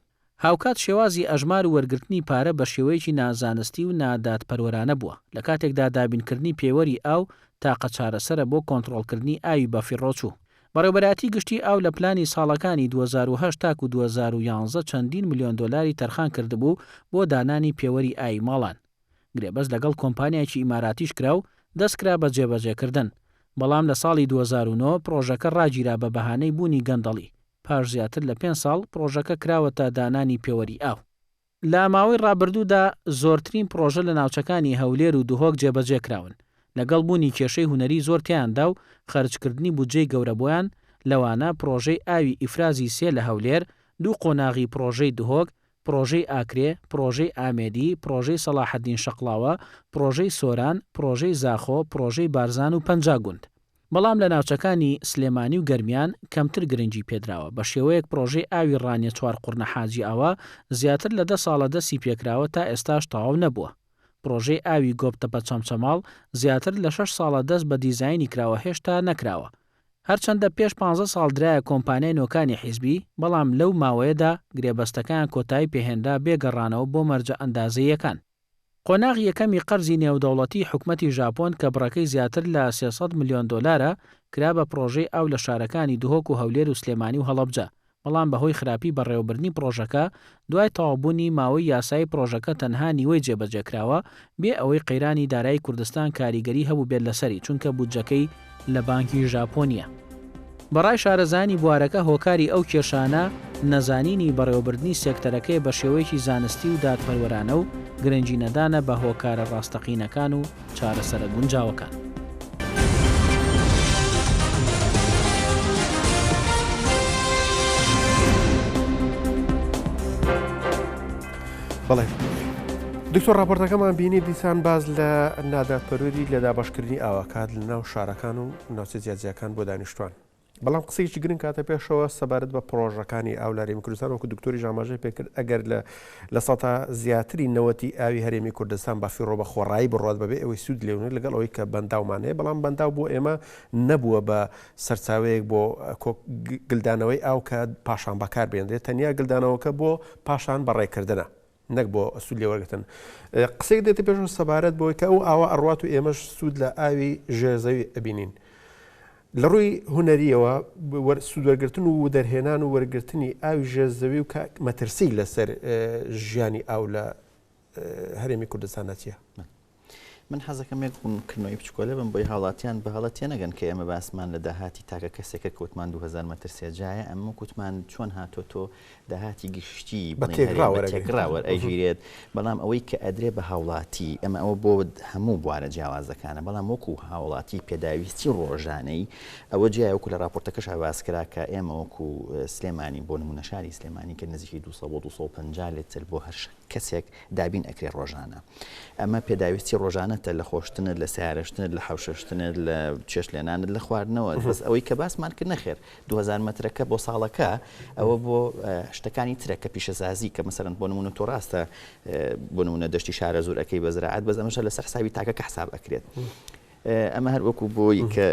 هاوکات شێوازی ئەژمار و وەرگرتنی پارە بە شێوەیەکی نازانستی و نادادپەروەرانە بووە، لە کاتێکدا دابینکردنی پێوەری ئاو تاقە چارەسەرە بۆ کۆنتڕۆڵکردنی ئاوی بەفیڕۆچوو. بەڕێوەبەرایەتی گشتی ئاو لە پلانی ساڵەکانی دوو هەزار و هەشت تاکوو دوو هەزار و یانزە چەندین ملیۆن دۆلاری تەرخان کردبوو بۆ دانانی پێوەری ئاوی ماڵان، گرێبەست لەگەڵ کۆمپانیایەکی ئیماراتیش کرا و دەستکرا بە جێبەجێکردن، بەڵام لە ساڵی دوو هەزار و نۆ پڕۆژەکە ڕاگیرا بە بەهانەی بوونی گەندەڵی. پاش زیاتر لە پێنج ساڵ پڕۆژەکە کراوەتە دانانی پێوەری ئاو. لە ماوەی ڕابردوودا زۆرترین پڕۆژە لە ناوچەکانی هەولێر و دهۆک جێبەجێکراون، لەگەڵ بوونی کێشەی هونەری زۆر تیایاندا و خەرجکردنی بودجەی گەورە بۆیان، لەوانە پڕۆژەی ئاوی ئیفرازی سێ لە هەولێر، دوو قۆناغی پڕۆژەی دهۆک، پڕۆژەی ئاکرێ، پڕۆژەی ئامێدی، پڕۆژەی سەڵاحەدین شەقڵاوە، پڕۆژەی سۆران، پڕۆژەی زاخۆ، پڕۆژەی بارزان و پەنجا گوند. بەڵام لە ناوچەکانی سلێمانی و گەرمیان کەمتر گرنگی پێدراوە، بە شێوەیەک پڕۆژەی ئاوی ڕانیە چوار قوڕنە حاجی ئاوا زیاتر لە دە ساڵە دەستی پێکراوە تا ئێستاش تەواو نەبووە. پڕۆژەی ئاوی گۆپتەپە چەمچەماڵ زیاتر لە شەش ساڵە دەست بە دیزاینی کراوە هێشتا نەکراوە، هەرچەندە پێش پانزە ساڵ درایە کۆمپانیای نۆکانی حیزبی، بەڵام لەو ماوەیەدا گرێبەستەکەیان کۆتایی پێهێنرا بێ گەڕانەوە بۆ مەرجە ئەندازەییەکان. قۆناغی یەکەمی قەرزی نێودەوڵەتیی حکومەتی ژاپۆن کە بڕەکەی زیاتر لە سێ سەد ملیۆن دۆلارە، کرا بە پڕۆژەی ئاو لە شارەکانی دهۆک و هەولێر و سلێمانی و هەڵەبجە بەڵام بەهۆی خراپی بەڕێوەبردنی پڕۆژەکە دوای تەواوبوونی ماوەی یاسایی پڕۆژەکە تەنها نیوەی جێبەجێکراوە، بێ ئەوەی قەیرانی دارایی کوردستان کاریگەری هەبووبێت لەسەری، چونکە بودجەکەی لە بانکی ژاپۆن نییە. بەڕای شارەزایانی بوارەکە هۆکاری ئەو کێشانە نەزانینی بەڕێوەبردنی سێکتەرەکەی بەشێوەیەکی زانستی و دادپەروەرانە و گرنگی نەدانە بە هۆکارە ڕاستەقینەکان و چارەسەرە گونجاوەکان. دکتۆر ڕاپۆرتەکەمان بینی دیسان باز لە نادادپەروەری لە دابشکردنی ئاواکات لە ناو شارەکان و ناوچە جیاجیاکان بۆ دانیشتوان بەڵام قسەیەکی گرنگ کاتە پێشەوە سەبارەت بە پڕۆژەکانی ئاو لە هەرێمی کوردستان وەکو دکتۆریش ئاماژەی پێکرد ئەگەر لە لە سەتا زیاتری نەوەتی ئاوی هەرێمی کوردستان بە فیڕۆ بە خۆڕایی بڕوات بەبێ ئەوەی سوود لێ بنێت لەگەڵ ئەوەی کە بەنداومان هەیە بەڵام بەنداو بۆ ئێمە نەبووە بە سەرچاوەیەک بۆ گلدانەوەی ئاو کە پاشان بەکاربهێنرێت تەنیا گلدانەوەکە بۆ پاشان بەڕێکردنە. نەک بۆ سوود لێوەرگرتن. قسەیەک دێتە پێشەوە سەبارەت بەوەی کە ئەو ئاوە ئەڕوات و ئێمەش سوود لە ئاوی ژێر زەوی ئەبینین. لە ڕووی هونەرییەوە سوود وەرگرتن و وەدەرهێنان و وەرگرتنی ئاوی ژێر زەوی و کە مەترسیی لەسەر ژیانی ئاو لە هەرێمی کوردستانە چییە؟ من حەزەکەم یەک ڕوونکردنەوەی بچکۆلە بم بۆی هاوڵاتیان بە هەڵە تێنەگەن کە ئێمە باسمان لە داهاتی تاکە کەسێکە کە وتمان دوو هەزار مەتر سێجایە، ئەمە وەک وتمان چۆن هاتۆتۆ داهاتی گشتیی بڵێین هەرێم بە تێکڕا وەرئەگیرێت، بەڵام ئەوەی کە ئەدرێ بە هاوڵاتی، ئەمە ئەوە بۆ هەموو بوارە جیاوازەکانە، بەڵام وەکو هاوڵاتی پێداویستی ڕۆژانەی، ئەوە جیایە وەکو لە ڕاپۆرتەکەشا باس کرا کە ئێمە وەکو سلێمانی بۆ نموونە شاری سلێمانی کە نزیکی دوو سەد بۆ دوو سەد و پەنجا لیتر بۆ هەر کەسێک دابین ئەکرێ ڕۆژانە ئەمە پێداویستی ڕۆژانەتە لە خۆشتنت لە سیارشتنت لە حوششتنت لە چێش لێنانت لە خواردنەوە بەس ئەوەی کە باسمان کرد نەخێر 2000 مترەکە بۆ ساڵەکە ئەوە بۆ شتەکانی ترە کە پیشەسازی کە مەسەرند بۆ نمونە تۆ ڕاستە بۆ نمونە دەشتی شارە زۆرەکەی بەزراعات بەزەمەشە لەسەر حسابی تاکەکە حساب ئەکرێت. ئەمە هەر وەکو بۆی کە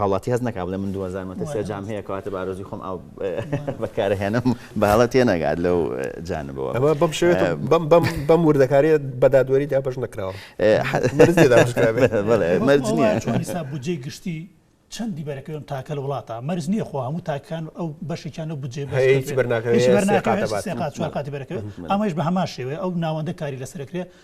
هاوڵاتی هەست نەکا بڵێ من دوو هەزار مەتر سێ جام هەیە کەواتە بە ئارەزووی خۆم ئاو بەکارئەهێنم بە هەڵە تێ نەگات لەو جانبەوە ئەمە بەم شێوێتە بەم بەم بەم وردەکارییە بە دادوەری دابەش نەکراوە مەرج نییە دابەش کرابێت بەڵێ مەرج نییە وەڵا چۆن حیساب بودجەی گشتی چەندی بەرەکەوێم تاکە لە وڵاتە مەرج نییە خۆ هەموو تاکەکان ئەو بەشێکیان لەو بودجەی بەرز هیچ بەرناکەوێت هیچ بەرناکەوێت سێ قات سێ قات چوار قاتی بەرەکەوێت ئەمەیش بە هەمان شێوەیە ئەو ناوەندە کاری لەسەر ئەکرێ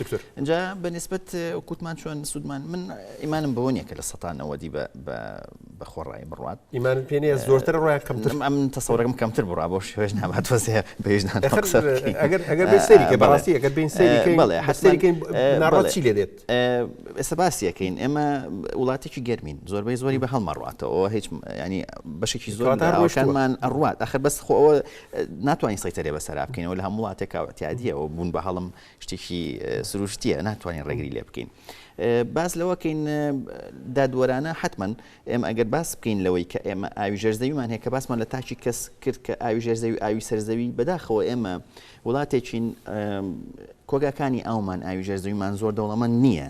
دکتۆر ئەجا بە نسبت کووتمان چۆن سوودمان من ئیمانم بەوە نیە کە لە سەتانەوە دی بە خۆڕایی بڕات ئیمان پێێ زۆرتر ڕای کەمتر ئەم تەسەورەکەم کەمتر بڕا بۆ شێش نابات تۆزێ بێژنان بەڕاستی ئەگەر بین سەریڕاتی لێ دێت ئێستا باسیەکەین ئێمە وڵاتێکی گەرمین زۆربەی زۆری بە هەڵمەڕاتەوە هیچ ینی بەشێکی زۆر داڕۆشانمان ئەڕات ئەخر بەس خۆەوە ناتوانین سەیتەرێ بەسەرا بکەینەوە لە هەموڵاتێکاوەتیادیەوە بوون بە هەڵم شتێکی سروشتییە ناتوانین ڕێگری لێ بکەین. باس لەوە کەین دادوەرانە حتمما ئێمە ئەگەر باس بکەین لەوەی کە ئێمە ئاوی ژێرزەویمان هەیە کە باسمان لە تاکی کەس کرد کە ئاوی ژێرزەوی ئاوی سەرزەوی بەداخەوە ئێمە وڵاتێکین کۆگاکانی ئەومان ئاوی ژێرزەویمان زۆر دەوڵەمەند نییە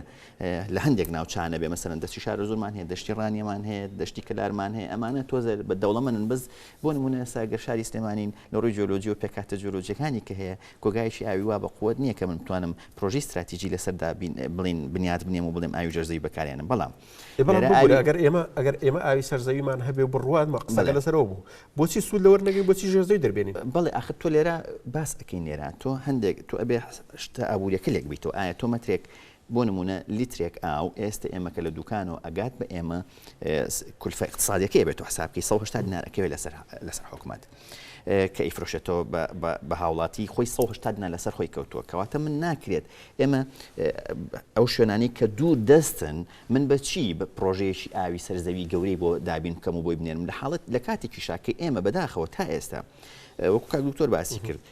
لە هەندێک ناوچانە بێ مەسەرەن دەستی شارە زۆرمان هەیە دەشتی ڕانیەمان هەیە دەشتی کەلارمان هەیە ئەمانە تۆزە بە دەوڵەمەن بەس بۆ نمونە ساگەر شاری سلێمانین لە ڕووی جۆلۆجی و پێکاتە جۆلۆجیەکانی کە هەیە کۆگایەکی ئاوی وا بەقوەت نییە کە من بتوانم پرۆژەی ستراتیجی لەسەر دابین بڵێین بنیات بنێم و بڵێم ئاوی ژێر زەوی بەکارێنم بەڵام ئێ بەڵام لێرە ببورە ئاوی ئەگەر ئێمە ئەگەر ئێمە ئاوی سەر زەویمان هەبێ و بڕوات بە قسەکە بڵێ لەسەرەوە بوو بۆچی سوود لەوەر نەگرین بۆچی ژێر زەوی دەربێنین؟ بەڵێ ئاخر تۆ لێرە باس ئەکەین لێرە تۆ هەندێک تۆ ئەبێ شتە ئابوورییەکە لێک بەیتەوە ئایا تۆ مەترێک بۆ نموونە لیترێک ئاو ئێستە ئێمە کە لە دووکانەوە ئەگات بە ئێمە کولفە ئیقتسادیەکەی بێت و حساب بکەی 180 دینار ئەکەوێت لەسەر لەسەر حکومەت کە ئیفرۆشێتەوە بە هاوڵاتی خۆی 180 دینار لەسەر خۆی کەوتووە کەواتە من ناکرێت ئێمە ئەو شوێنانی کە دوور دەستن من بەچی بە پرۆژەیەکی ئاوی سەرزەوی گەورەی بۆ دابین بکەم و بۆی بنێرم لە حاڵت لە کاتێکی شاکە ئێمە بەداخەوە تا ئێستا وەکو کاک دکتۆر باسی کرد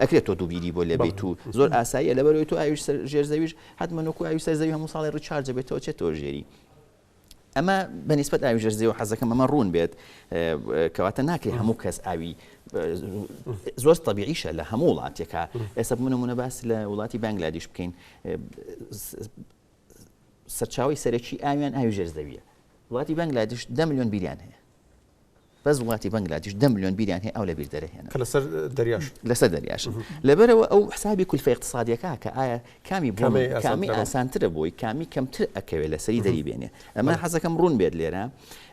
ئەکرێت تۆ دوو بیری بۆ لێبێیت و زۆر ئاساییە لەبەرئەوەی تۆ ئاویش سەر ژێر زەویش حەتمەن وەکو ئاوی سەر زەوی هەموو ساڵێ ڕیچارج دەبێتەوە چێتەوە ژێری ئەمە بەنیسبەت ئاوی ژێر زەوی حەزەکەم ئەمە ڕوون بێت کەواتە ناکرێت هەموو کەس ئاوی زۆر طبیعیشە لە هەموو وڵاتێکە ئێستا منەمونە باس لە وڵاتی بەنگلادیش بکەین سەرچاوی سەرەکی ئاویان ئاوی ژێر زەویە وڵاتی بەنگلادیش دە میلیۆن بیریان هەیە بەس وڵاتی بەنگلادیش دە ملیۆن بیریان هەیە ئاو لەبیر دەرەهێنن کە لەسەر دەریاش لەسەر دەریاشن لەبەرەوە ئەو حسابی کولفە اقتصادیەکە کە ئایا کامی بۆ کامەی ئاسانترە کامی بۆ؟ ئاسانترە بۆی کامی کەمتر ئەکەوێت لەسەری دەری بێنێ ئەمە بەڵێ. حەزەکەم ڕوون بێت لێرە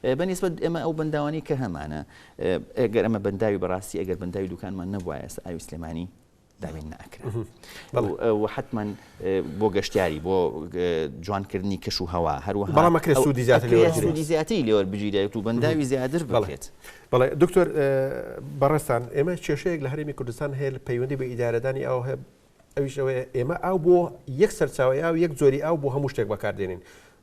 ئە، بەنیسبەت ئێمە ئەو بەنداوانەی کە هەمانە ئە، ئەگەر ئەمە بەنداوی بەڕاستی ئەگەر بەنداوی دوکانمان نەبوایە ئێستا ئاوی سلێمانی دابین ناکرا و حتممەن بۆ گەشتیاری بۆ جوانکردنی کەش و هەوا هەروەهامەکرێت سوودی زیاتری زیاتری لێوە بگیرێت و بەنداوی زیاتر بڵێت بەڵێ دکتۆر بەڕێستان ئێمە کێشەیەک لە هەرمی کوردستان هەیە لە پەیوەندی بە ئیدارەدانی ئەو هەیە ئەویشەوەی ئێمە ئاو بۆ یەک سەرچاوی ئاو یەک جۆری ئاو بۆ هەموو شتێک بەکاردێنین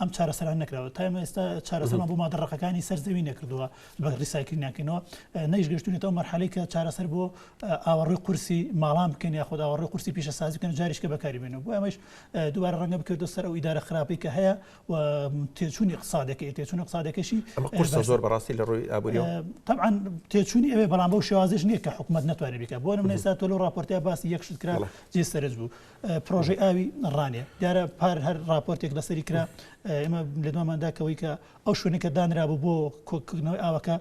ئەم چارەسەران نەکراوە تا ئێمە ئێستا چارەسەرمان بۆ مادە ڕەقەکانی سەر زەوی نەکردووە بە ڕیسایکردنیانکەینەوە نەیشگەشتونێت ئەو مەرحەلەی کە چارەسەر بۆ ئاوەڕۆی قورسی ماڵان بکەین یا خۆدا ئاوەڕۆی قورسی پیشە سازی بکەن جاریشکە بەکاری بێنەوە بۆ ئەمەش دوبارە ڕەنگە بکردو سەر ئەو ئیدارە خراپی کە هەیە و تێچوونی قسادەکەی تێچوون قسادەکەشی قورسە زۆر بەڕاستی لە ڕووی ئابووری طبعا تێچوونی ئەوێ بەڵام بەو شێوازش نییە کە حکوومەت نتوانێت بیکە بۆ نمونە ئێستا تۆ لەو ڕاپۆرتەیە باسی یەکشت کرا جێ سەرنج بوو پرۆژەی ئاوی ڕانێ دیارە پار هەر راپۆرتێک لەسەری کرا ئێمە لە دوماندا کەەوەی کە ئەو شوێنەکە دانرا بوو بۆ کۆکردنەوەی ئاوەکە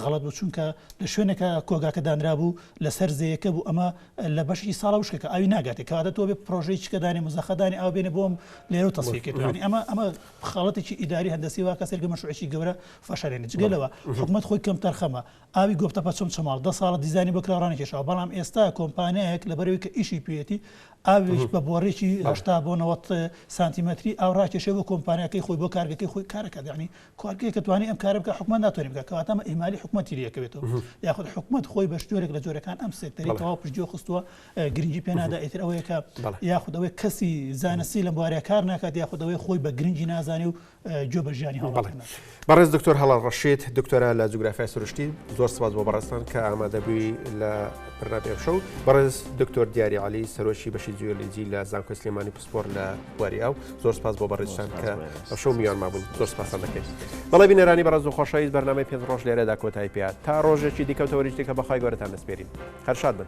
غەڵت بوو چونکە لە شوێنەکە کۆگاکە دانرا بوو لەسەر زەیەکە بوو ئەمە لە بەشی ساڵە وشکەکە ئاوی ناگاتێک کەواتە تۆ بێ پرۆژەی چکەدانی مزەخەدانی ئاو بێنە بۆم لێرە و تەسیکردوانی ئەمە ئەمە خاڵەتێکی ئیداری هەندسی وا کەسێک لە مەشوعێکی گەورە فەشارێنە جگەلەوە حکومت خۆی کەم تەرخەمە ئاوی گۆپتەپە چەمچەماڵ دە ساڵە دیزاینی بۆ کراوە ڕانەکێشاوە، بەڵام ئێستا کۆمپانیایەک لەبەرئەوەی کە ئیشی پێیەتی ئاوێک بە بۆڕێکی هەشتا بۆ نەوەد سانتیمەتری ئاو ڕاکێشێ بۆ کۆمپانیاکەی خۆی بۆ کارگەکەی خۆی کار ئەکات یانی کوارگەیەک کە توانی ئەم کارە بکا حکومەت ناتوانێ بکا کەواتە ئەمە ئیهمالی حکومەتی لێ کەوێتەوە یاخود حکومەت خۆی بە جۆرێک لە جۆرەکان ئەم سێکتەری تەواو پشتگوێ خستووە گرنگی پێ نادا ئیتر ئەوەیە کە یاخود ئەوەی کەسی زانستی لەم بوارەیە کار ناکات یاخود ئەوەی خۆی بە گرنگی نازانێ و گوێ بە ژیانی هاوڵاتیان نادەن. بەڕێز دکتۆر هەڵال ڕەشید دکتۆرا لە جوگرافیای سروشتی زۆر سپاس بۆ بەڕێزتان کە ئامادەبووی لە پرناپی ئەمشە و بەڕێز دکتۆر دیاری علی سەرۆکی بەشی جوێلیجی لە زانکۆی سلێمانی پسپۆر لە بواری ئەو زۆر سپاس بۆ بەڕێزتان کە ئەمشە و میان مابوون زۆر سپاسان دەکەین بەڵێ بینەرانی بەڕێز و خۆشەویست بەرنامەی پێنج ڕۆژ لێرەدا کۆتای پێات تا ڕۆژێکی دیکە و تەوەریش دیکە بەخوای گەورەتان دەسپێرین هەر شاد بن